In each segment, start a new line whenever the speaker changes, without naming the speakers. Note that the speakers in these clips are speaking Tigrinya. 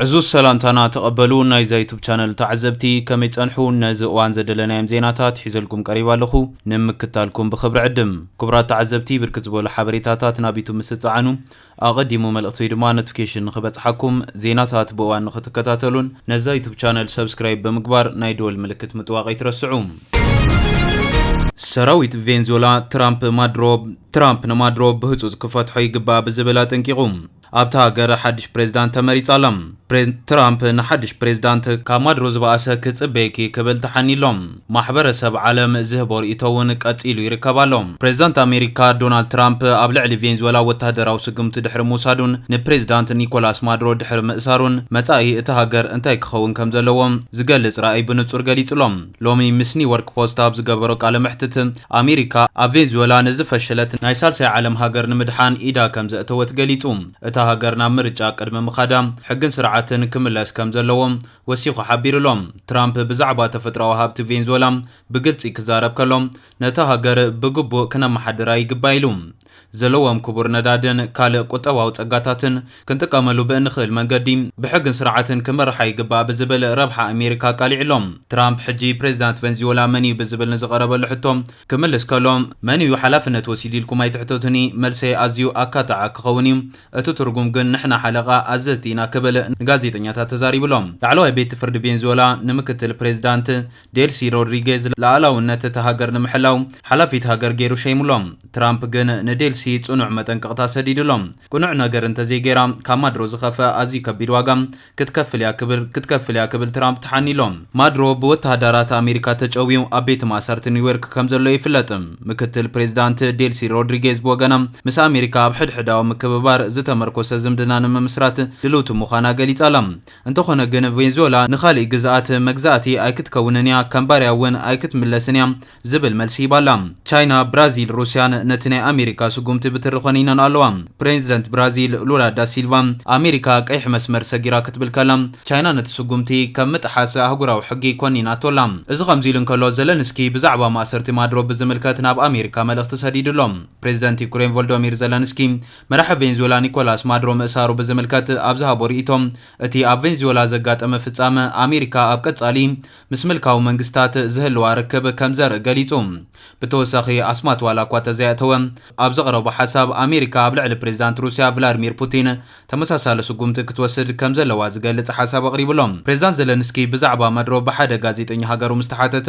ዕዙዝ ሰላምታና ተቐበሉ ናይዛ ዩቱብ ቻነል ተዓዘብቲ ከመይ ጸንሑ ነዚ እዋን ዘደለናዮም ዜናታት ሒዘልኩም ቀሪባ ኣለኹ ንምክታልኩም ብክብሪ ዕድም ክቡራት ተዓዘብቲ ብርክት ዝበሉ ሓበሬታታት ናብ ዩቱብ ምስ ጸዓኑ ኣቐዲሙ መልእኽቲ ወይ ድማ ኖቲፊኬሽን ንኽበጽሓኩም ዜናታት ብእዋን ንኽትከታተሉን ነዛ ዩቱብ ቻነል ሰብስክራይብ ብምግባር ናይ ደወል ምልክት ምጥዋቕ ኣይትረስዑ ሰራዊት ቬንዙዌላ ትራምፕ ማድሮ ትራምፕ ንማድሮ ብህፁፅ ክፈትሖ ይግባእ ብዝብል ኣጠንቂቑ ኣብታ ሃገር ሓድሽ ፕሬዝዳንት ተመሪጻ ኣላ። ፕሬዝዳንት ትራምፕ ንሓድሽ ፕሬዝዳንት ካብ ማዱሮ ዝበኣሰ ክጽበየኪ ክብል ተሓንዩ ኣሎ። ማሕበረሰብ ዓለም ዝህቦ ርእይቶ እውን ቀጺሉ ይርከብ ኣሎ። ፕሬዝዳንት ኣሜሪካ ዶናልድ ትራምፕ ኣብ ልዕሊ ቬንዝወላ ወተሃደራዊ ስጉምቲ ድሕሪ ምውሳዱን ንፕሬዝዳንት ኒኮላስ ማዱሮ ድሕሪ ምእሳሩን መጻኢ እታ ሃገር እንታይ ክኸውን ከምዘለዎ ዝገልጽ ራእይ ብንጹር ገሊጹ ኣሎ። ሎሚ ምስ ኒውዮርክ ፖስት ኣብ ዝገበሮ ቃለ መሕትት ኣሜሪካ፣ ኣብ ቬንዙዌላ ንዝፈሸለት ናይ ሳልሳይ ዓለም ሃገር ንምድሓን ኢዳ ከምዘእተወት ገሊጹ። እታ ሃገር ናብ ምርጫ ቅድሚ ምኻዳ ሕግን ስርዓትን ክምለስ ከምዘለዎ ወሲኹ ሓቢሩ'ሎ። ትራምፕ ብዛዕባ ተፈጥሮኣዊ ሃብቲ ቬንዙዌላ ብግልጺ ክዛረብ ከሎ፣ ነታ ሃገር ብግቡእ ክነመሓድራ ይግባእ ኢሉ። ዘለዎም ክቡር ነዳድን ካልእ ቁጠባዊ ጸጋታትን ክንጥቀመሉ ብእንኽእል መንገዲ ብሕግን ስርዓትን ክምርሓ ይግባእ ብዝብል ረብሓ ኣሜሪካ ኣቃሊዑ ኣሎ። ትራምፕ ሕጂ ፕሬዚዳንት ቨንዝዮላ መን'ዩ ብዝብል ንዝቐረበሉ ሕቶ ክምልስ ከሎ፣ መን'ዩ ሓላፍነት ወሲዱ ኢልኩም ኣይትሕተቱኒ፣ መልሰይ ኣዝዩ ኣካታዒ ክኸውን እዩ፣ እቲ ትርጉም ግን ንሕና ሓለቓ፣ ኣዘዝቲ፣ ኢና ክብል ንጋዜጠኛታት ተዛሪቡ'ሎ። ላዕለዋይ ቤት ፍርዲ ቬንዝዮላ ንምክትል ፕሬዚዳንት ዴልሲ ሮድሪጌዝ ልኣላውነት እታ ሃገር ንምሕላው ሓላፊት ሃገር ገይሩ ሸይሙ'ሎ። ትራምፕ ግን ንዴልሲ ጽኑዕ መጠንቀቕታ ሰዲዱ'ሎ። ቅኑዕ ነገር እንተዘይገይራ ካብ ማድሮ ዝኸፍኣ ኣዝዩ ከቢድ ዋጋ ክትከፍል እያ ክብል ክትከፍል እያ ክብል ትራምፕ ተሓኒ'ሎ። ማድሮ ብወተሃዳራት ኣሜሪካ ተጨውዩ ኣብ ቤት ማእሰርቲ ኒውዮርክ ከምዘሎ ይፍለጥ። ምክትል ፕሬዚዳንት ዴልሲ ሮድሪጌዝ ብወገና ምስ ኣሜሪካ ኣብ ሕድሕዳዊ ምክብባር ዝተመርኮሰ ዝምድና ንምምስራት ድልውቲ ምዃና ገሊጻ'ላ። እንተኾነ ግን ቬንዙዌላ ንኻሊእ ግዝኣት መግዛእቲ ኣይክትከውንን እያ፣ ከም ባርያ እውን ኣይክትምለስን እያ ዝብል መልሲ ሂባ ኣላ። ቻይና፣ ብራዚል፣ ሩስያን ነቲ ናይ ኣሜሪካ ስጉምቲ ብትሪ ኾኒነን ኣለዋ። ፕሬዚደንት ብራዚል ሉላ ዳሲልቫ ኣሜሪካ ቀይሕ መስመር ሰጊራ ክትብል ከላ ቻይና ነቲ ስጉምቲ ከም ምጥሓስ ኣህጉራዊ ሕጊ ኮኒናቶ ኣላ። እዚ ከምዚ ኢሉ እንከሎ ዘለንስኪ ብዛዕባ ማእሰርቲ ማድሮ ብዝምልከት ናብ ኣሜሪካ መልእኽቲ ሰዲዱ ኣሎ። ፕሬዚደንት ዩክሬን ቮልዶሚር ዘለንስኪ መራሒ ቬንዙዌላ ኒኮላስ ማድሮ ምእሳሩ ብዝምልከት ኣብ ዝሃቦ ርእይቶ፣ እቲ ኣብ ቬንዙዌላ ዘጋጠመ ፍጻመ፣ ኣሜሪካ ኣብ ቀጻሊ ምስ ምልካዊ መንግስታት ዝህልዋ ርክብ ከም ዘርኢ ገሊጹ። ብተወሳኺ ኣስማት ዋላኳ ተዘይኣእተወ፣ ኣብ ዘቕረቦ ሓሳብ፣ ኣሜሪካ ኣብ ልዕሊ ፕሬዚዳንት ሩስያ ቭላድሚር ፑቲን ተመሳሳሊ ስጉምቲ ክትወስድ ከም ዘለዋ ዝገልጽ ሓሳብ ኣቕሪቡ'ሎ። ፕሬዚዳንት ዘለንስኪ ብዛዕባ ማድሮ ብሓደ ጋዜጠኛ ሃገሩ ምስ ተሓተተ፣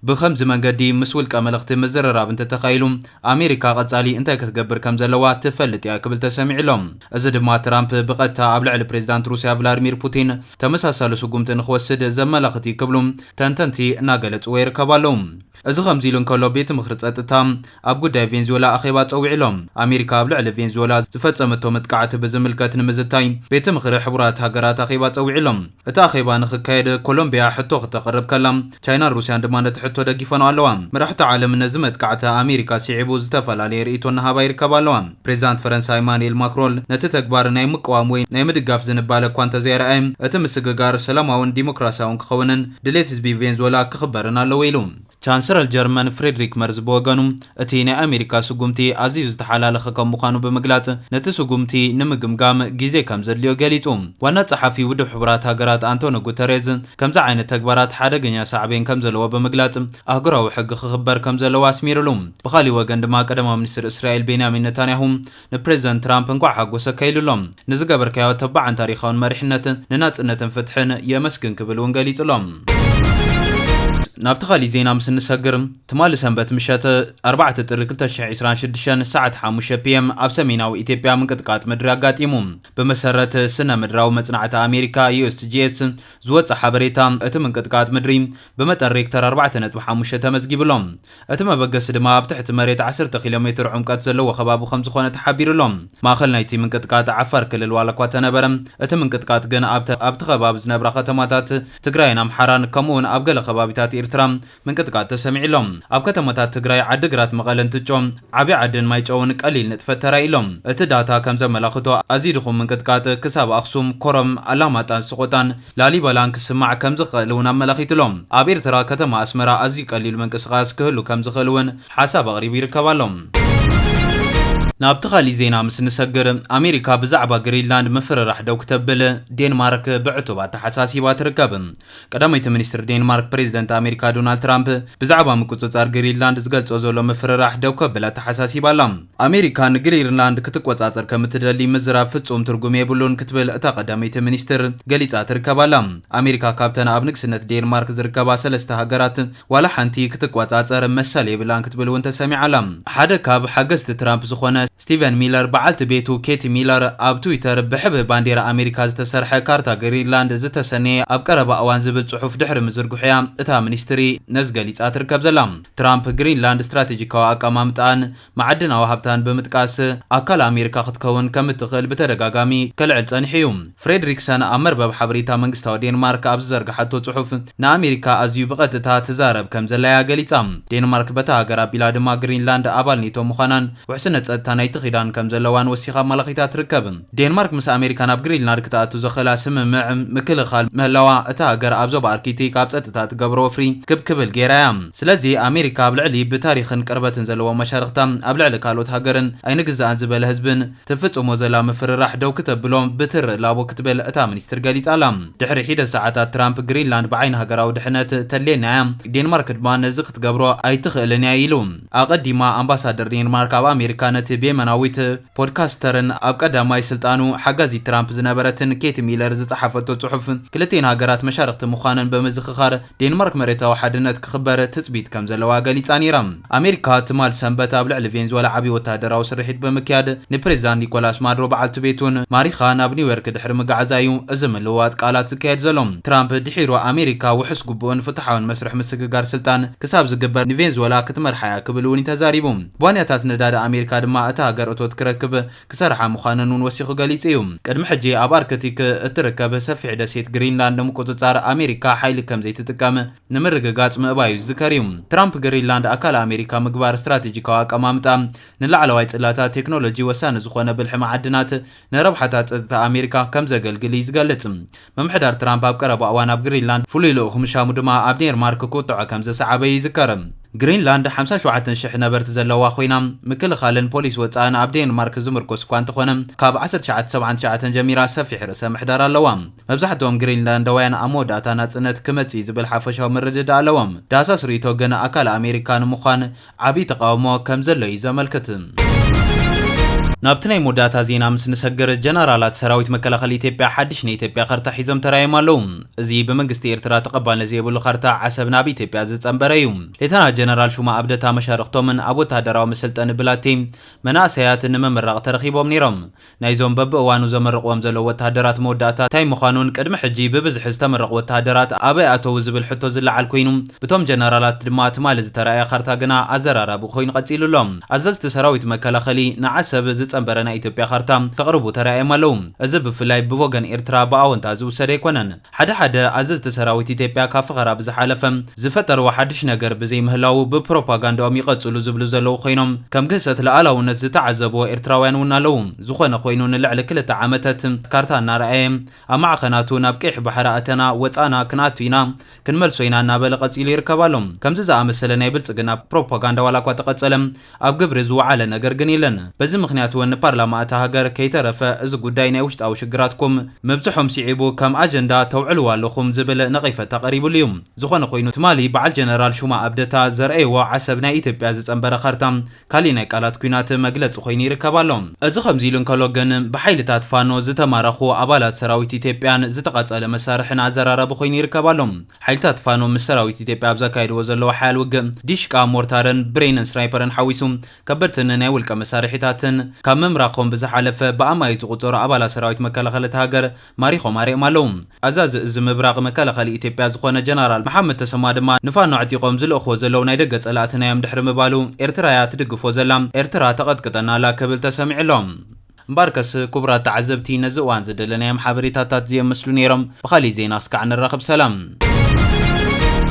ብኸምዚ መንገዲ ምስ ውልቀ መለኽቲ ምዝርራብ እንተተኻኢሉ ኣሜሪካ ቐፃሊ እንታይ ክትገብር ከም ዘለዋ ትፈልጥ እያ ክብል ተሰሚዑ ኣሎ። እዚ ድማ ትራምፕ ብቐጥታ ኣብ ልዕሊ ፕሬዚዳንት ሩሲያ ቭላድሚር ፑቲን ተመሳሳሊ ስጉምቲ ንክወስድ ዘመላኽት እዩ ክብሉ ተንተንቲ እናገለፅዎ ይርከቡ ኣለው። እዚ ከምዚ ኢሉ እንከሎ ቤት ምኽሪ ፀጥታ ኣብ ጉዳይ ቬንዝዌላ ኣኼባ ፀዊዑ ኣሎ። ኣሜሪካ ኣብ ልዕሊ ቬንዝዌላ ዝፈፀመቶ መጥቃዕቲ ብዝምልከት ንምዝታይ ቤት ምኽሪ ሕቡራት ሃገራት ኣኼባ ፀዊዑ ኣሎ። እቲ ኣኼባ ንክካየደ ኮሎምቢያ ሕቶ ክተቕርብ ከላ፣ ቻይናን ሩስያን ድማ ነቲ ሕቶ ደጊፈንኦ ኣለዋ። መራሕቲ ዓለም ነዚ መጥቃዕቲ ኣሜሪካ ስዒቡ ዝተፈላለየ ርእይቶ እናሃባ ይርከባ ኣለዋ። ፕሬዚዳንት ፈረንሳ ኢማኑኤል ማክሮን ነቲ ተግባር ናይ ምቅዋም ወይ ናይ ምድጋፍ ዝንባለ እኳ እንተዘየርኣየ፣ እቲ ምስግጋር ሰላማውን ዲሞክራሲያውን ክኸውንን ድሌት ህዝቢ ቬንዙወላ ክኽበርን ኣለዎ ኢሉ። ቻንስረል ጀርመን ፍሬድሪክ መርዝ ብወገኑ፣ እቲ ናይ ኣሜሪካ ስጉምቲ ኣዝዩ ዝተሓላለኸ ከም ምዃኑ ብምግላጽ፣ ነቲ ስጉምቲ ንምግምጋም ግዜ ከም ዘድልዮ ገሊጹ። ዋና ጸሓፊ ውድብ ሕቡራት ሃገራት ኣንቶኒ ጉተሬዝ፣ ከምዚ ዓይነት ተግባራት ሓደገኛ ሳዕቤን ከም ዘለዎ ብምግላጽ፣ ኣህጉራዊ ሕጊ ክኽበር ከም ዘለዎ ኣስሚርሉ። ብኻሊእ ወገን ድማ ቀዳማይ ሚኒስትር እስራኤል ቤንያሚን ነታንያሁ፣ ንፕሬዝደንት ትራምፕ እንኳዕ ሓጎሰካ ኢሉ ኣሎ። ንዝገበርካዮ ተባዕን ታሪኻውን መሪሕነት ንናጽነትን ፍትሕን የመስግን ክብል እውን ገሊጹ ኣሎ። ናብቲ ካሊእ ዜና ምስ እንሰግር፣ ትማሊ ሰንበት ምሸት ኣርባዕተ ጥሪ ክልተ ሽሕ ዕስራን ሽዱሽተን ሰዓት ሓሙሽተ PM ኣብ ሰሜናዊ ኢትዮጵያ ምንቅጥቃጥ ምድሪ ኣጋጢሙ። ብመሰረት ስነ ምድራዊ መጽናዕቲ ኣሜሪካ፣ USGS፣ ዝወጸ ሓበሬታ፣ እቲ ምንቅጥቃጥ ምድሪ ብመጠን ሬክተር ኣርባዕተ ነጥቢ ሓሙሽተ ተመዝጊቡ ኣሎ። እቲ መበገሲ ድማ ኣብ ትሕቲ መሬት ዓሰርተ ኪሎሜትር ዑምቀት ዘለዎ ከባቢ ከምዝኾነ ተሓቢሩ ኣሎ። ማእኸል ናይቲ ምንቅጥቃጥ ዓፋር ክልል ዋላኳ እተነበረ እቲ ምንቅጥቃጥ ግን ኣብተ ኣብቲ ከባቢ ዝነብራ ከተማታት ትግራይን ኣምሓራን ከምኡ እውን ኣብ ገለ ከባቢታት ኢርትራ ምንቅጥቃጥ ተሰሚዑ ኣሎ። ኣብ ከተማታት ትግራይ ዓዲግራት መቐለን ትጮ ዓብይ ዓድን ማይጨውን ቀሊል ንጥፈት ተራእዩ ኣሎ። እቲ ዳታ ከምዘመላኽቶ ኣዝዩ ድኹም ምንቅጥቃጥ ክሳብ ኣኽሱም፣ ኮረም፣ ኣላማጣን ስቖጣን፣ ላሊበላን ክስማዕ ከም ዝኸእል እውን ኣመላኺቱ ኣሎ። ኣብ ኤርትራ ከተማ ኣስመራ ኣዝዩ ቀሊል ምንቅስቓስ ክህሉ ከም ዝኸእል እውን ሓሳብ ኣቕሪቡ ይርከብ ኣሎ። ናብቲ ካሊእ ዜና ምስ ንሰግር፣ ኣሜሪካ ብዛዕባ ግሪንላንድ ምፍርራሕ ደው ክተብል ዴንማርክ ብዕቱብ ኣተሓሳሲባ ትርከብ። ቀዳመይቲ ሚኒስትር ዴንማርክ ፕሬዚደንት ኣሜሪካ ዶናልድ ትራምፕ ብዛዕባ ምቁጽጻር ግሪንላንድ ዝገልጾ ዘሎ ምፍርራሕ ደው ከብል ኣተሓሳሲባ ኣላ። ኣሜሪካ ንግሪንላንድ ክትቆጻጸር ከም እትደሊ ምዝራብ ፍጹም ትርጉም የብሉን ክትብል እታ ቀዳመይቲ ሚኒስትር ገሊጻ ትርከብ ኣላ። ኣሜሪካ ካብተን ኣብ ንግስነት ዴንማርክ ዝርከባ ሰለስተ ሃገራት ዋላ ሓንቲ ክትቆጻጸር መሰል የብላን ክትብል እውን ተሰሚዓ ኣላ። ሓደ ካብ ሓገዝቲ ትራምፕ ዝኾነ ስቲቨን ሚለር በዓልቲ ቤቱ ኬቲ ሚለር ኣብ ትዊተር ብሕብሪ ባንዴራ ኣሜሪካ ዝተሰርሐ ካርታ ግሪንላንድ ዝተሰነየ ኣብ ቀረባ እዋን ዝብል ጽሑፍ ድሕሪ ምዝርግሑ እያ እታ ሚኒስትሪ ነዚ ገሊጻ ትርከብ ዘላ። ትራምፕ ግሪንላንድ ስትራቴጂካዊ ኣቀማምጣኣን መዓድናዊ ሃብታን ብምጥቃስ ኣካል ኣሜሪካ ክትከውን ከም እትኽእል ብተደጋጋሚ ከልዕል ጸኒሑ እዩ። ፍሬድሪክሰን ኣብ መርበብ ሓበሬታ መንግስታዊ ዴንማርክ ኣብ ዝዘርግሓቶ ጽሑፍ ንኣሜሪካ ኣዝዩ ብቐጥታ ትዛረብ ከም ዘላ እያ ገሊጻ። ዴንማርክ በታ ሃገር ኣቢላ ድማ ግሪንላንድ ኣባል ኔቶ ምዃናን ውሕስነት ጸጥታ ናይቲ ኪዳን ከም ዘለዋን ወሲኻ ኣማላኺታ ትርከብ። ዴንማርክ ምስ ኣሜሪካ ናብ ግሪንላድ ክትኣቱ ዘኽእላ ስምምዕ ምክልኻል ምህላዋ እታ ሃገር ኣብ ዞባ ኣርኪቲክ ኣብ ጸጥታ እትገብሮ ወፍሪ ክብ ክብል ገይራ እያ። ስለዚ ኣሜሪካ ኣብ ልዕሊ ብታሪኽን ቅርበትን ዘለዎም መሻርኽታ ኣብ ልዕሊ ካልኦት ሃገርን ኣይንግዛእን ዝበለ ህዝብን ትፍጽሞ ዘላ ምፍርራሕ ደው ክተብሎ ብትሪ ላቦ ክትብል እታ ሚኒስትር ገሊጻ ኣላ። ድሕሪ ሒደት ሰዓታት ትራምፕ ግሪንላንድ ብዓይኒ ሃገራዊ ድሕነት ተድልየና እያ፣ ዴንማርክ ድማ ነዚ ክትገብሮ ኣይትኽእልን እያ ኢሉ። ኣቐዲማ ኣምባሳደር ዴንማርክ ኣብ ኣሜሪካ ነቲ ብየመናዊት፣ ፖድካስተርን ኣብ ቀዳማይ ስልጣኑ ሓጋዚት ትራምፕ ዝነበረትን ኬቲ ሚለር ዝጸሓፈቶ ጽሑፍ፣ ክልቲኤን ሃገራት መሻርኽቲ ምዃነን ብምዝኽኻር፣ ዴንማርክ መሬታዊ ሓድነት ክኽበር ትጽቢት ከም ዘለዋ ገሊጻ ነይራ። ኣሜሪካ ትማል ሰንበት ኣብ ልዕሊ ቬንዙወላ ዓቢ ወተሃደራዊ ስርሒት ብምክያድ ንፕሬዚዳንት ኒኮላስ ማዱሮ በዓልቲ ቤቱን ማሪኻ ናብ ኒውዮርክ ድሕሪ ምግዓዛ እዩ እዚ ምልውዋጥ ቃላት ዝካየድ ዘሎ። ትራምፕ ድሒሩ ኣሜሪካ ውሑስ ግቡእን ፍትሓውን መስርሕ ምስግጋር ስልጣን ክሳብ ዝግበር ንቬንዙወላ ክትመርሓ እያ ክብል እውን'ዩ ተዛሪቡ። ቧንያታት ነዳዲ ኣሜሪካ ድማ እታ ሃገር እቶት ክረክብ ክሰርሓ ምዃነን እውን ወሲኹ ገሊጹ እዩ። ቅድሚ ሕጂ ኣብ ኣርክቲክ እትርከብ ሰፊሕ ደሴት ግሪንላንድ ንምቁጽጻር ኣሜሪካ ሓይሊ ከም ዘይትጥቀም ንምርግጋጽ ምእባዩ ዝዝከር እዩ። ትራምፕ ግሪንላንድ ኣካል ኣሜሪካ ምግባር ስትራቴጂካዊ ኣቀማምጣ ንላዕለዋይ ጽላታት ቴክኖሎጂ ወሳኒ ዝኾነ ብልሒ መዓድናት ንረብሓታት ጸጥታ ኣሜሪካ ከም ዘገልግል እዩ ዝገልጽ። ምምሕዳር ትራምፕ ኣብ ቀረባ እዋን ኣብ ግሪንላንድ ፍሉይ ልኡኹ ምሻሙ ድማ ኣብ ዴንማርክ ቁጥዐ ከም ዘስዓበ ይዝከር። ግሪንላንድ ሓምሳ ሸውዓተ ሽሕ ነበርቲ ዘለዋ ኮይና፣ ምክልኻልን ፖሊሲ ወጻእን ኣብ ዴንማርክ ዝምርኮስ እኳ እንተኾነ፣ ካብ ዓሰርተ ትሽዓተ ሰብዓን ትሽዓተን ጀሚራ ሰፊሕ ርእሰ ምሕዳር ኣለዋ። መብዛሕትኦም ግሪንላንዳውያን ኣብ መወዳእታ ናጽነት ክመጽእ'ዩ ዝብል ሓፈሻዊ ምርድዳእ ኣለዎም። ዳህሳስ ርእይቶ ግን ኣካል ኣሜሪካ ንምዃን ዓብይ ተቓውሞ ከም ዘሎ እዩ ዘመልክት። ናብቲ ናይ መወዳእታ ዜና ምስ ንሰግር፣ ጀነራላት ሰራዊት መከላኸሊ ኢትዮጵያ ሓድሽ ናይ ኢትዮጵያ ካርታ ሒዞም ተራእዮም ኣለዉ። እዚ ብመንግስቲ ኤርትራ ተቐባልነት ዘይብሉ ካርታ ዓሰብ ናብ ኢትዮጵያ ዝጸንበረ እዩ። ሌተናል ጀነራል ሹማ ኣብደታ መሻርኽቶምን ኣብ ወተሃደራዊ መሰልጠኒ ብላቴ መናእሰያት ንምምራቕ ተረኺቦም ነይሮም። ናይዞም በብእዋኑ ዘመርቕዎም ዘለዉ ወተሃደራት መወዳእታ ታይ ምዃኑን ቅድሚ ሕጂ ብብዝሒ ዝተመረቑ ወተሃደራት ኣበይ ኣተዉ ዝብል ሕቶ ዝለዓል ኮይኑ ብቶም ጀነራላት ድማ ትማሊ ዝተራእየ ካርታ ግና ኣዘራራቢ ኮይኑ ቀፂሉ ኣሎ። ኣዘዝቲ ሰራዊት መከላኸሊ ንዓሰብ ዝፀምበረ ናይ ኢትዮጵያ ካርታ ከቕርቡ ተራእዮም ኣለዉ። እዚ ብፍላይ ብወገን ኤርትራ ብኣወንታ ዝውሰድ ኣይኮነን። ሓደ ሓደ ኣዘዝቲ ሰራዊት ኢትዮጵያ ካብ ፈኸራ ብዝሓለፈ ዝፈጠርዎ ሓድሽ ነገር ብዘይምህላዉ ብፕሮፓጋንዳኦም ይቐፅሉ ዝብሉ ዘለዉ ኮይኖም ከም ግህሰት ልኣላውነት ዝተዓዘብዎ ኤርትራውያን እውን ኣለዉ። ዝኾነ ኮይኑ ንልዕሊ ክልተ ዓመተት ካርታ እናርኣየ ኣብ ማዕኸናቱ ናብ ቀይሕ ባሕሪ ኣተና፣ ወፃእና፣ ክንኣቱ ኢና፣ ክንመልሶ ኢና እናበለ ቀፂሉ ይርከብ ኣሎ። ከምዚ ዝኣመሰለ ናይ ብልፅግና ፕሮፓጋንዳ ዋላኳ ተቐፀለ፣ ኣብ ግብሪ ዝወዓለ ነገር ግን የለን። በዚ ምኽንያት እውን ፓርላማ እታ ሃገር ከይተረፈ እዚ ጉዳይ ናይ ውሽጣዊ ሽግራትኩም ምብፅሖም ስዒቡ ከም ኣጀንዳ ተውዕልዎ ኣለኹም ዝብል ነቐይፈታ ቀሪብሉ እዩ። ዝኾነ ኮይኑ ትማሊ በዓል ጀነራል ሹማ ኣብደታ ዘርኣይዎ ዓሰብ ናይ ኢትዮጵያ ዝፀንበረ ካርታ ካሊእ ናይ ቃላት ኲናት መግለፂ ኮይኑ ይርከብ ኣሎ። እዚ ከምዚ ኢሉ እንከሎ ግን ብሓይልታት ፋኖ ዝተማረኹ ኣባላት ሰራዊት ኢትዮጵያን ዝተቓፀለ መሳርሕን ኣዘራራቢ ኮይኑ ይርከብ ኣሎ። ሓይልታት ፋኖ ምስ ሰራዊት ኢትዮጵያ ኣብ ዘካይድዎ ዘለዉ ሓያል ውግእ፣ ዲሽቃ፣ ሞርታርን ብሬንን ስናይፐርን ሓዊሱ ከበድቲ ን ናይ ውልቀ መሳርሒታትን ካብ ምምራኾም ብዝሓለፈ ብኣማኢት ዝቑፀሩ ኣባላት ሰራዊት መከላኸሊ እታ ሃገር ማሪኾም ኣሪኦም ኣለው። ኣዛዚ እዚ ምብራቕ መከላኸሊ ኢትዮጵያ ዝኾነ ጀነራል መሓመድ ተሰማ ድማ ንፋኖ ኣዕጢቖም ዝልእኽዎ ዘለው ናይ ደገ ፀላእትና'ዮም ድሕሪ ምባሉ ኤርትራ'ያ ትድግፎ ዘላ፣ ኤርትራ ተቐጥቅጠና ኣላ ክብል ተሰሚዑ ኣሎ። እምበኣርከስ ኩቡራት ተዓዘብቲ ነዚ እዋን ዝደለናዮም ሓበሬታታት ዝየም ምስሉ ነይሮም ብኻሊእ ዜና ክስካዕ ንራኸብ ሰላም።